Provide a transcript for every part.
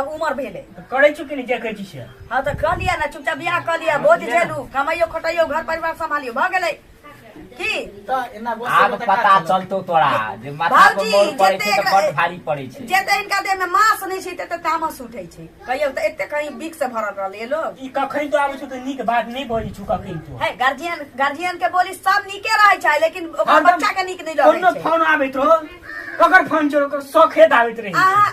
अब उमर भेले तो करे छु कि नहीं जे कहे छी से हाँ तो कह लिया ना चुपचाप बियाह कह लिया बोझ झेलू कमाइयो खटाइयो घर परिवार संभालियो भ गेले की तो एना आब गोसे पता चलतो तोरा जे माथा पर भाउजी, मोर पड़े छै जतेक- त बड़ भारी पड़े छै जेते इनका देह में मांस नहीं छै तेते तामस उठे छै कहियो तो एते कहीं बिक से भरल रहल ये लोग ई कखन तो आबै छु त नीक बात नहीं बजै छु कखन तो है गार्जियन गार्जियन के बोली सब नीके रहे छै लेकिन ओकर हरदम बच्चा के नीक नहीं कोनो रहे छै फोन आबैत रहो ककर फोन चोर ओकर सखेत आबैत रही अहाँ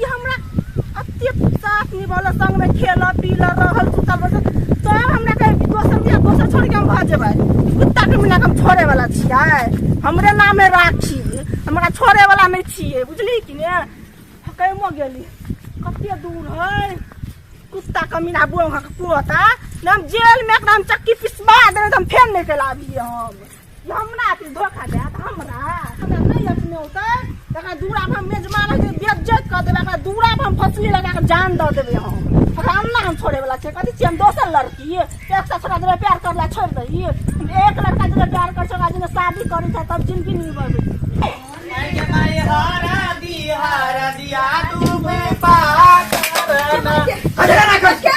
ई हमरा अत्य साथ निभाला संग में खेला पीला रहल सुतल बसल तो अब हमरा कहे कि दोसर बिया दोसर छोड़ के हम भा जेबै कुत्ता के मिला के हम छोड़े वाला छियै हमरे नाम है राखी हमरा छोड़े वाला नहीं छियै बुझली कि ने कैमो गेली कते दूर है कुत्ता कमीना बुआ के कुआता ना हम जेल में एकरा हम चक्की पिसवा देबै तऽ हम फेर निकल आबियै हम हमरा की धोखा देत हमरा हमरा नहि अपने होते तखन दूरा पर मेज मारे के बेज्जत कर देबे हमरा दूरा पर हम फसली लगा के जान दऽ देबे हम हमरा अन्ना हम छोड़े वाला छै कथी छियै हम दोसर लड़की एक सौ सत्रह दिन प्यार करला छोड़ दही हम एक लड़का जे प्यार कर छोड़ा जे शादी करी छै तब जिंदगी नहीं बढ़े अरे ना कर क्या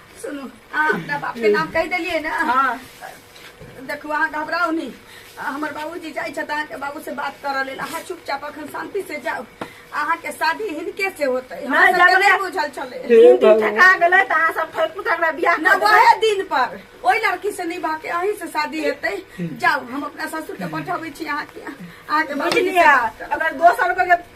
सुनू अहाँ अपना बाप के नाम कहि देलियै ने हाँ देखू अहाँ घबराउ नहीं हमर बाबूजी जाइ छथि अहाँके बाबू से बात करऽ लेल अहाँ चुपचाप अखन शांति से जाउ अहाँके शादी हिनके से होतै नहि, हमरा सबके जबरे- नहि बुझल छलै तीन दिन ठका गेलै तऽ अहाँ सब ठोकि ठकरा बियाह न कऽ देबै। वहे दिन पर ओहि लड़की से निभा के अहीं से शादी हेतै जाउ हम अपना ससुर के पठबै छी अहाँके अहाँके बाबूजी से बुझलियै बात करब। अगर दोसर को जे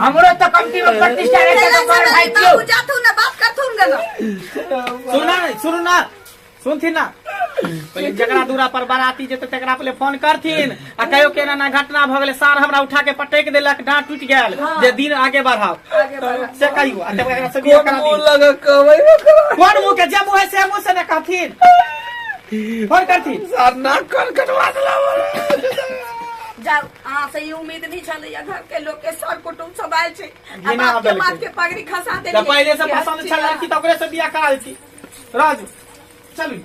हमरो तो कंपनी में प्रतिष्ठा रहे के बड़ भाई क्यों जाथू ना बात करथू ना सुना नहीं सुनू ना सुनथिन ना पहिले जकरा दूरा पर बाराती जेते तकरा पहिले फोन करथिन आ कहियो केना ना घटना भ गेलै सार हमरा उठा के पटक देलक डांट टूट गेल जे दिन आगे बढ़ाओ से कहियो आ तब एकरा से बियाह करा दियो लगा कबै ना करा कोन मुंह के जे मुंह है से मुंह से ना कहथिन फोन करथिन सर ना कर कटवा देला बोले जाओ अहाँ से ई उम्मीद नहीं छलैया घर के लोग के सर कुटुम सब आयल छै आ बिना बाप के आदल माथ के। के पगड़ी खसा तऽ देलियै पहिले से पसन्द छल लड़की तऽ ओकरे से बियाह करा देती राजू चलू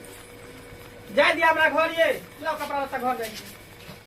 जाय दिया हमरा घर ये लो कपड़ा लत्ता घर जाय